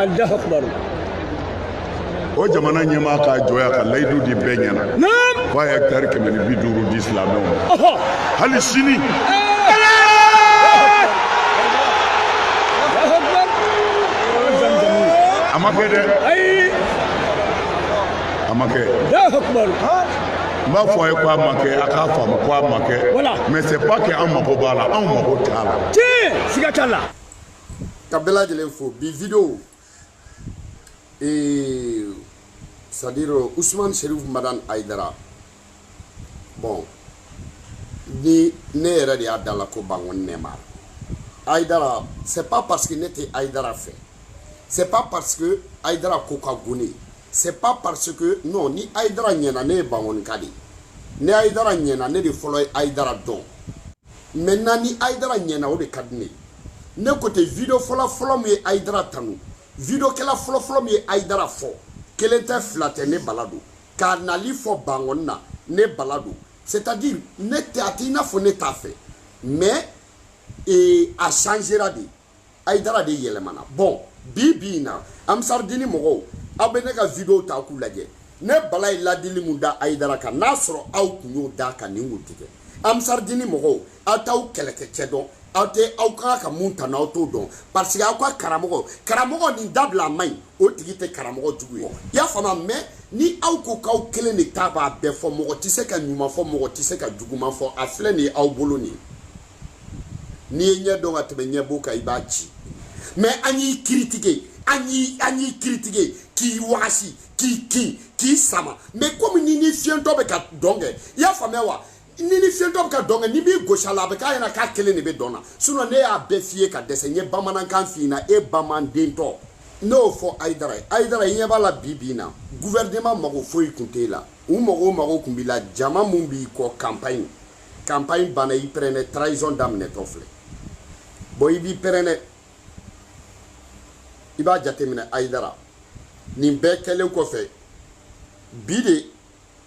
Allahu akbar o jamana ɲɛmaa k'a jɔ yan ka layidu di bɛɛ ɲɛna ko a ye hɛkitari kɛmɛ ni bi duuru di silamɛw ma hali sini a ma kɛ dɛ a ma kɛ n b'a fɔ a ye ko a ma kɛ a k'a faamu ko a ma kɛ mais c'est pas que an mago b'a la anw mago t'a la tiɲɛ siga t'a la ka bɛɛ lajɛlen fo bi video ee c'est à dire usman sherif madan aidara bon ni ne yɛrɛ de y'a da la ko bangoni neymar aidara c'est pas parce que ne tɛ aidara fɛ c'est pas parce que aidara ko ka gon ne ye c'est pas parce que non ni aidara ɲɛna ne ye bangonika de ye ni aidara ɲɛna ne de fɔlɔ ye aidara dɔn maintenant ni ayidara ɲɛna o de ka di ne ye ne côté video fɔlɔfɔlɔ min ye ayidara tanu videokɛla fɔlɔfɔlɔ min ye ayidara fɔ kelen tɛ fila tɛ ne bala don k'a nali fɔ bangɔni na ne bala don c'est à dire ne tɛ a tɛ i n'a fɔ ne t'a fɛ mais ee a changera de Aïdara de yɛlɛmana bon bi bi in na Amsaridini mɔgɔw aw bɛ ne ka video ta k'u lajɛ ne Bala ye ladili min da Aïdara kan n'a sɔrɔ aw tun y'o d'a kan nin tun tɛ kɛ Amsaridini mɔgɔw aw t'aw kɛlɛkɛcɛ dɔn aw tɛ aw ka kan ka mun tanu aw t'o dɔn parce que aw ka karamɔgɔ karamɔgɔ nin dabila a man ɲi o tigi tɛ karamɔgɔ jugu ye i y'a faamu mais ni aw ko k'aw kelen de ta b'a bɛɛ fɔ mɔgɔ tɛ se ka ɲuman fɔ mɔgɔ tɛ se ka juguman fɔ a filɛ nin ye aw bolo nin ye n'i ye ɲɛ dɔn ka tɛmɛ ɲɛbo kan i b'a ci mais an y'i kiritike an y'i kiritike k'i wagasi k'i kin k'i sama mais komi ni ni fiyɛntɔ bɛ ka dɔn kɛ i y'a faamuya wa ni ni fiyɛntɔ bɛ ka dɔn kɛ nin b'i gosi a la a bɛ k'a ɲɛna k'a kelen de bɛ dɔn na sinon ne y'a bɛɛ f'i ye ka dɛsɛ n ye bamanankan f'i ɲɛna e bamanandentɔ ne y'o fɔ ayidara ye ayidara i ɲɛ b'a la bi bi in na guvɛrɛneman mago foyi tun t'e la u mago mago tun b'i la jama min b'i kɔ kanpaɲi campagne banna i pɛrɛnɛ trahison daminɛtɔ filɛ bon i b'i pɛrɛnɛ i b'a jateminɛ ayidara nin bɛɛ kɛlen kɔfɛ bi de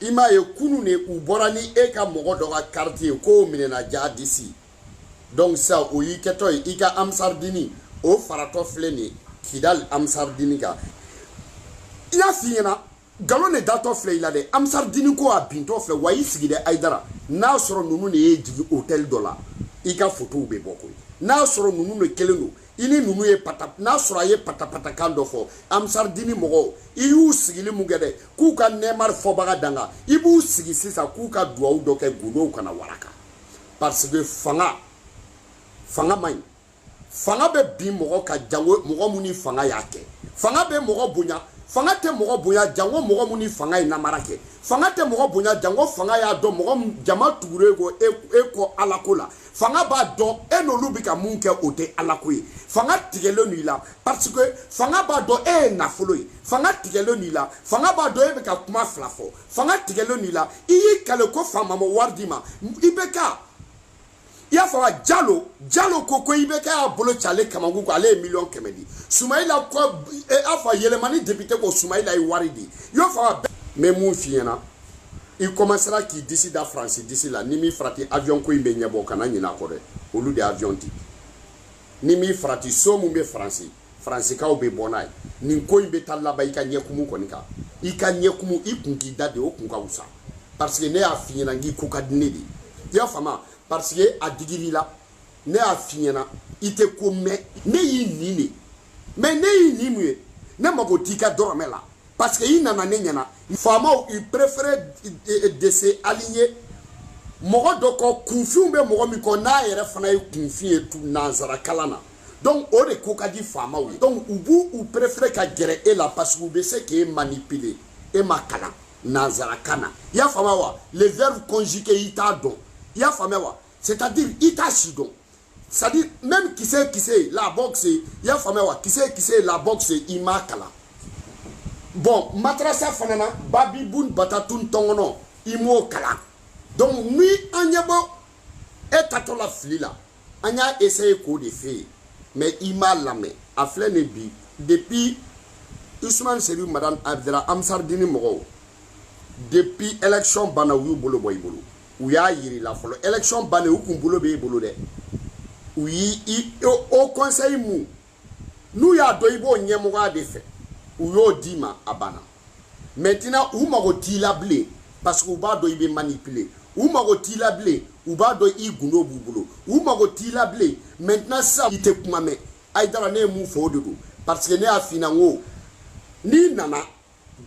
i m'a ye kunu de u bɔra ni e ka mɔgɔ dɔ ka kariti ye k'o minɛna jihadisi donc ça o y'i kɛtɔ ye i ka amsaridini o faratɔ filɛ nin ye kidali amsaridini kan i y'a f'i ɲɛna nkalon de datɔ filɛ i la dɛ amsaridini ko a bintɔ filɛ wa i sigi dɛ ayidara n'a sɔrɔ ninnu de y'i jigin hotɛli dɔ la i ka fotow bɛ bɔ koyi n'a sɔrɔ ninnu de kelen don i ni ninnu ye pata n'a sɔrɔ a ye patapatakan dɔ fɔ amsaridini mɔgɔw i y'u sigili min kɛ dɛ k'u ka neymar fɔbaga danga i b'u sigi sisan k'u ka duwawu dɔ kɛ gundow kana waraka parce que fanga fanga man ɲi fanga bɛ bin mɔgɔ kan jango mɔgɔ mun ni fanga y'a kɛ fanga bɛ mɔgɔ bonya fanga tɛ mɔgɔ bonya jango mɔgɔ mun ni fanga ye namara kɛ fanga tɛ mɔgɔ bonya jango fanga y'a dɔn mɔgɔ jama tugulen ko e, e kɔ alako la fanga b'a dɔn e n'olu bɛ ka mun kɛ o tɛ alako ye fanga tigɛlen don i la parce que fanga b'a dɔn e ye nafolo ye fanga tigɛlen don i la fanga b'a dɔn e bɛ ka kuma fila fɔ fanga tigɛlen don i la i y'i kale ko faama ma wari d'i ma i bɛ ka i y'a fɔ wa jalo jalo ko ko i bɛ k'a bolo ci ale kamankun ko ale ye miliyɔn kɛmɛ di sumayila ko e y'a fɔ yelimani député ko sumayila ye wari di i y'a fɔ wa n bɛ mun f'i ɲɛna i commencera k'i disi da faransi disi la ni min farati avion ko in bɛ ɲɛbɔ kana ɲinɛ a kɔ dɛ olu de avion di ni min farati so mun bɛ faransi faransikaw bɛ bɔ n'a ye nin ko in bɛ taa laban i ka ɲɛkumu kɔni kan i ka ɲɛkumu i kun k'i da de o kun ka wusa parce que ne y'a f'i ɲɛna k'i ko ka di ne de ye i y'a faamu parce que a digir'i la ne y'a f'i ɲɛna i tɛ ko mɛn ne y'i nin de mais ne y'i nin mun ye ne mago t'i ka dɔrɔmɛ la parce que i nana ne ɲɛna faamaw ils préfèrent de se aligner mɔgɔ dɔ kɔ kunfinw bɛ mɔgɔ min kɔ n'a yɛrɛ fana ye kunfin ye nanzara kalan na donc o de ko ka di faamaw ye donc u b'u u préféré ka gɛrɛ e la parce que u bɛ se k'e manipuler e ma kalan nanzarakan na i y'a faamuya wa le verbe conjugué i t'a dɔn i y'a faamuya wa c'est à dire i t'a si dɔn c'est à dire même kisɛ kisɛ la boxe i y'a faamuya wa kisɛ kisɛ la boxe i m'a kalan bon madarasa fana na babibun batatun tɔngɔnɔ i m'o kalan donc ni an ɲɛ bɔ e taatɔ la fili la an y'a essayé k'o de f'e ye mais i m'a lamɛn a filɛ nin bi depuis usman serifu madani ayidara ansardini mɔgɔw depuis élection banna u y'u bolo bɔ i bolo u y'a yir'i la fɔlɔ élection bannen u kun bolo b'e bolo dɛ u y'i haut conseil mun n'u y'a dɔn i b'o ɲɛmɔgɔya de fɛ u y'o d'i ma a banna maintenant u mago t'i la bilen parce que u b'a dɔn i bɛ manipuler u mago t'i la bilen u b'a dɔn i gundo b'u bolo u mago t'i la bilen maintenant sisan i tɛ kuma mɛn ayidara ne ye mun fɔ o de don parce que ne y'a f'i ɲɛna n ko n'i nana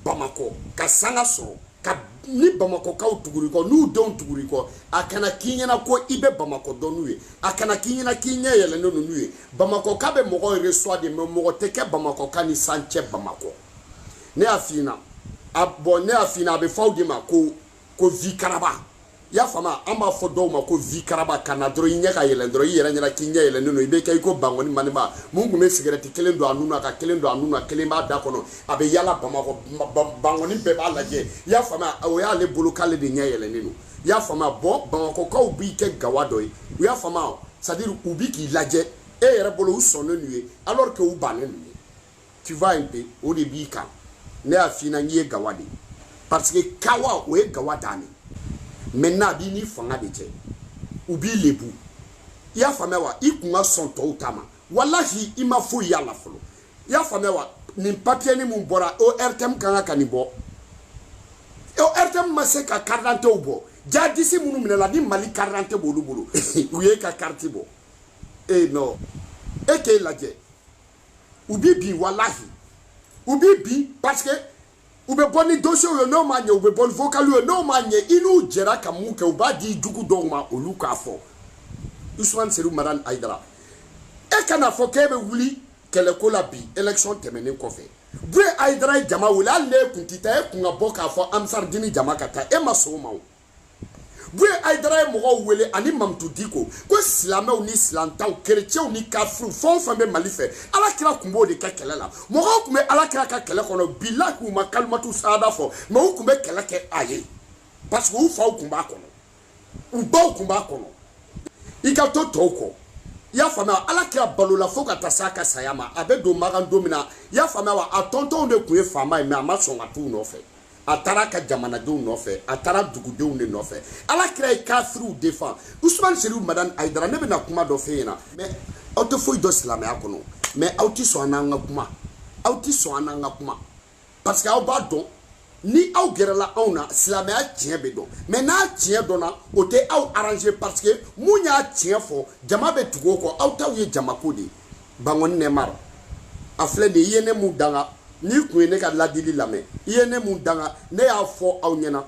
bamakɔ ka sanga sɔrɔ ka ni bamakɔkaw tugur'i kɔ n'u denw tugur'i kɔ a kana k'i ɲɛna ko i bɛ bamakɔ dɔn n'u ye a kana k'i ɲɛna k'i ɲɛ yɛlɛnnen don n'u ye bamakɔka bɛ mɔgɔ reçoit de mais mɔgɔ tɛ kɛ bamakɔka ni san cɛ bamakɔ ne y'a f'i ɲɛna a bon ne y'a f'i ɲɛna a bɛ fɔ aw de ma ko ko vi karaba i y'a faamuya an b'a fɔ dɔw ma ko vi karaba ka na dɔrɔn i ɲɛ ka yɛlɛn dɔrɔn i yɛrɛ ɲɛna k'i ɲɛ yɛlɛnnen don i bɛ kɛ i ko bangɔni maniba mun tun bɛ sigɛrɛti kelen don a nun na ka kelen don a nun na kelen b'a da kɔnɔ a bɛ yala bamakɔ bangɔni bɛɛ b'a lajɛ i y'a faamuya o y'ale bolo k'ale de ɲɛ yɛlɛnnen don i y'a faamuya bon bamakɔkaw b'i kɛ gawa dɔ ye u y'a faamuya c'est à dire u bi k'i lajɛ e yɛrɛ bolo u sɔnnen n'u ye alors que u bannen n'u ye tu vois un peu o de b'i kan ne y'a f'i ɲɛna n'i ye gawa de parce que kawa o ye gawa dan de maintenant a b'i ni fanga de cɛ u b'i lebu i y'a faamuya wa i kun ka sɔn tɔw ta ma walahi i ma foyi y'a la fɔlɔ i y'a faamuya wa nin papiyɛni min bɔra ortm kan ka ka nin bɔ ortm ma se ka karidantew bɔ jadisi minnu minɛla ni mali karidante b'olu bolo u ye ka kariti bɔ e non e k'e lajɛ u b'i bin walahi u b'i bin parce que u bɛ bɔ ni dosiyew ye n'o ma ɲɛ u bɛ bɔ ni vocaliw ye n'o ma ɲɛ i n'u jɛra ka mun kɛ u b'a di jugu dɔw ma olu k'a fɔ usman serifu madani ayidara e kana fɔ k'e bɛ wuli kɛlɛko la bi élection tɛmɛnen kɔfɛ buye ayidara ye jama wele hali n'e kun tɛ taa e kun ka bɔ k'a fɔ amsaridini jama ka taa e ma sɔn o ma o Buye Aïdara ye mɔgɔw wele ani Mamutu Diko ko silamɛw ni silantaw kerecɛnw ni kafiriw fɛn o fɛn bɛ Mali fɛ Ala kira tun b'o de kɛ kɛlɛ la mɔgɔw tun bɛ Ala kira ka kɛlɛ kɔnɔ bilahi u ma kalimatu sahada fɔ mais u tun bɛ kɛlɛ kɛ a ye parce que u faw tun b'a kɔnɔ u baw tun b'a kɔnɔ i ka to tɔw kɔ i y'a faamuya Ala kira balola fo ka taa s'a ka saya ma a bɛ don Makan don min na i y'a faamuya wa a tontonw de tun ye faama ye mais a ma sɔn ka t'u nɔfɛ a taara a ka jamanadenw nɔfɛ a taara dugudenw de nɔfɛ ala kira ye kafiriw défendre usman serifu madani ayidara ne bɛna kuma dɔ f'e ɲɛna mais aw tɛ foyi dɔn silamɛya kɔnɔ mais aw tɛ sɔn an n'an ka kuma aw tɛ sɔn an n'an ka kuma parce que aw b'a dɔn ni aw gɛrɛla anw na silamɛya tiɲɛ bɛ dɔn mais n'a tiɲɛ dɔnna o tɛ aw arranger parce que mun y'a tiɲɛ fɔ jama bɛ tugu o kɔ aw taw ye jamako de ye bangoni nɛmar a filɛ nin i ye ne mun danga n'i kun ye ne ka ladili lamɛn i ye ne mun danga ne y'a fɔ aw ɲɛna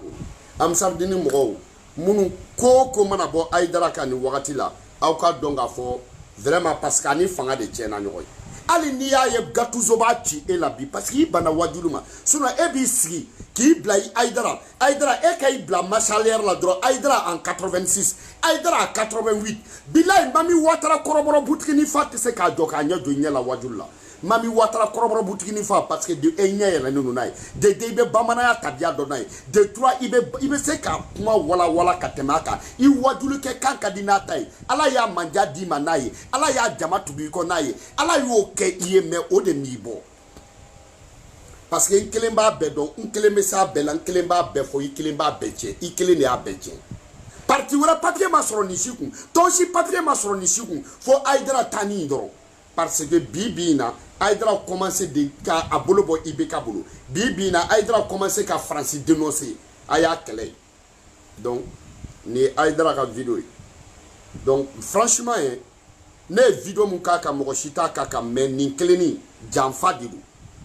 amsaridini mɔgɔw minnu ko o ko mana bɔ ayidara kan nin wagati la aw k'a dɔn k'a fɔ vraiment parce que a ni fanga de tiɲɛna ɲɔgɔn ye hali n'i y'a ye gatuzo b'a ci e la bi parce que i banna wajulu ma sinon e b'i sigi k'i bila i ayidara Aïdara, e ka i bila marche arrière la dɔrɔn Aïdara en 86 Aïdara en 88 bilayi mami watara kɔrɔbɔrɔ butigini fa tɛ se k'a jɔ k'a ɲɛ jɔ i ɲɛ la wajulu la mami watara kɔrɔbɔrɔ butigini fa parce que de un i ɲɛ yɛlɛnnen don n'a ye de deux i bɛ bamananya tabiya dɔn n'a ye de trois i bɛ i bɛ se ka kuma walawala ka tɛmɛ a kan i wajulu kɛ kan ka di n'a ta ye ala ye mandiya d'i ma n'a ye ala ye jama tugu i kɔ n'a ye ala y'o kɛ i ye mais o de m'i bɔ parce que n kelen b'a bɛɛ dɔn n kelen bɛ s'a bɛɛ la n kelen b'a bɛɛ fɔ i kelen b'a bɛɛ tiɲɛ i kelen de y'a bɛɛ tiɲɛ parti wɛrɛ papiye ma sɔrɔ nin si kun tɔn si papiye ma sɔrɔ nin si kun fo ayidara ta nin dɔrɔn parce que bi bi in na ayidara commencé de ka a bolo bɔ ibk bolo bi bi in na ayidara commencé ka faransi denonse a y'a kɛlɛ ye donc nin ye ayidara ka video ye donc franchement ye eh, ne ye video mun k'a kan mɔgɔ si t'a k'a kan mais nin kelen nin janfa de don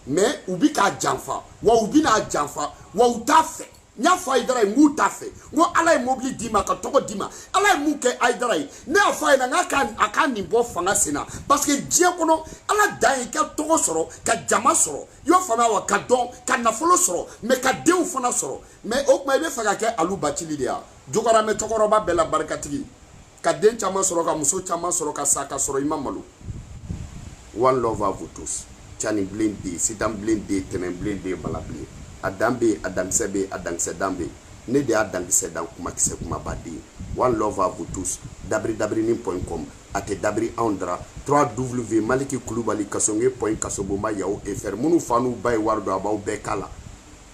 mais u bi k'a janfa wa u bɛn'a janfa wa u t'a fɛ n y'a fɔ ayidara ye n k'u t'a fɛ n ko ala ye mobili d'i ma ka tɔgɔ d'i ma ala ye mun kɛ ayidara ye ne y'a fɔ a ɲɛ na n k'a ka a ka nin bɔ fanga sen na parce que diɲɛ kɔnɔ ala dan ye ka tɔgɔ sɔrɔ ka jama sɔrɔ i y'a faamuya wa ka dɔn ka nafolo sɔrɔ mais ka denw fana sɔrɔ mais o tuma i bɛ fɛ ka kɛ alu bacili de ye jogoramɛ cɛkɔrɔba bɛɛ la barikatigi ka den caman sɔrɔ ka muso caman sɔrɔ ka sa ka sɔrɔ i ma malo one love à vous tous cani bilen bɛ yen sitan bilen bɛ yen tɛnɛn bilen bɛ yen bala bɛ yen a dan bɛ yen a dankisɛ bɛ yen a dankisɛ dan bɛ yen ne de y'a dankisɛ dan kumakisɛ kumabaden one love à vous tous dabiri dabirini point com a tɛ dabiri anw dara 3 w maliki kulubali kasonge point kasobonba yahoo fr minnu fa n'u ba ye wari don a b'aw bɛɛ k'a la